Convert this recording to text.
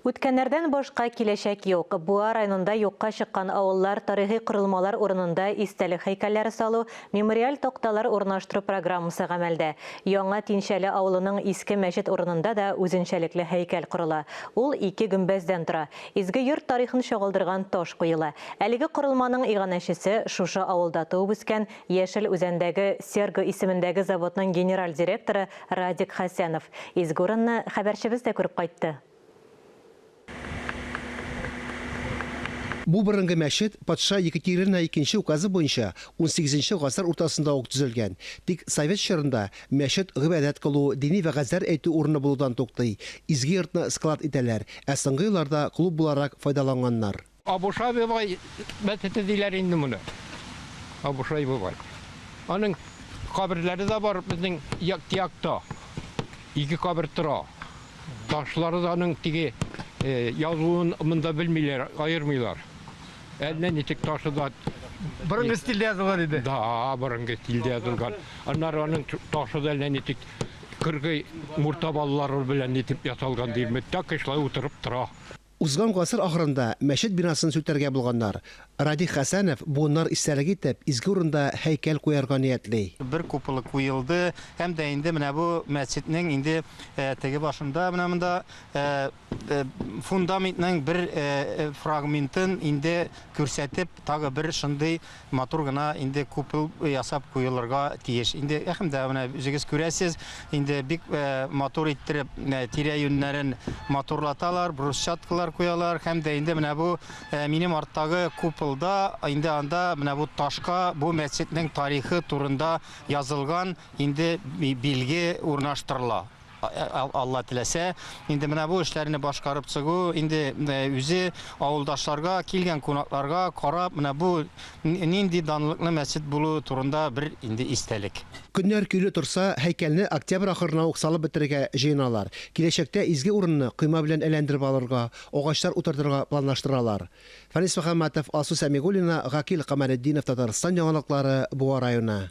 Үткәннәрдән башка киләчәк юк. Буа районында юкка чыккан авыллар, тарихи корылмалар урынында истәлек һәйкәлләре салу, мемориаль такталар урнаштыру программасы гамәлдә. Яңа Тинчәле авылының иске мәчет урынында да үзенчәлекле һәйкәл корыла. Ул ике гөмбәздән тора. Изге йорт тарихын чагылдырган таш куела. Әлеге корылманың иганәчесе, шушы авылда туып-үскән, Яшел Үзәндәге Серго исемендәге заводның генераль директоры Радик Хәсәнов изге урынны хәбәрчебез дә күреп кайтты. Бу борынгы мәчет патша Екатерина икенче указы буенча унсигезенче гасыр уртасында ук төзелгән. Тик совет чорында мәчет гыйбадәт кылу, дини вәгазьләр әйтү урыны булудан туктый, изге йортны склад итәләр, ә соңгы елларда клуб буларак файдаланганнар. Абушай бабай мәчете диләр инде моны. Абушай бабай. Аның каберләре дә бар безнең як якта. Ике кабер тора. Ташлары да аның теге э, язуын монда белмиләр, аермыйлар. Әллә ничек ташы да Борынгы стильдә язылган иде. Да, борынгы стильдә язылган. Аннары аның ташы да әллә ничек кыргый мурта балалары белән нитеп ясалган дип, так шулай утырып тора. Узган гасыр ахырында мәчет бинасын сүтәргә булганнар. Радик Хәсәнов буыннар истәлеге итеп изге урында һәйкәл куярга ниятли. Бер куполы куелды һәм дә инде менә бу мәчетнең инде теге башында, менә монда фундаментның бер фрагментын инде күрсәтеп, тагы бер шундый матур гына инде купел ясап куелырга тиеш. Инде әхем дә менә үзегез күрәсез, инде бик э, матур иттереп э, тирә юннәрен матурлаталар, брусчаткалар куялар һәм дә инде менә бу э, минем арттагы купылда инде анда менә бу ташка бу мәчетнең тарихы турында язылган инде билге урнаштырыла. Алла теләсә, инде менә бу эшләрне башкарып чыгу, инде үзе авылдашларга, килгән кунакларга карап, менә бу нинди данлыклы мәчет булуы турында бер инде истәлек. Көннәр көйле торса, һәйкәлне октябрь ахырына ук салып бетерергә җыеналар. Киләчәктә изге урынны койма белән әйләндереп алырга, агачлар утыртырга планлаштыралар. Фәнис Мөхәммәтов, Алсу Сәмигуллина, Гакил Камалетдинов, Татарстан яңалыклары, Буа районы.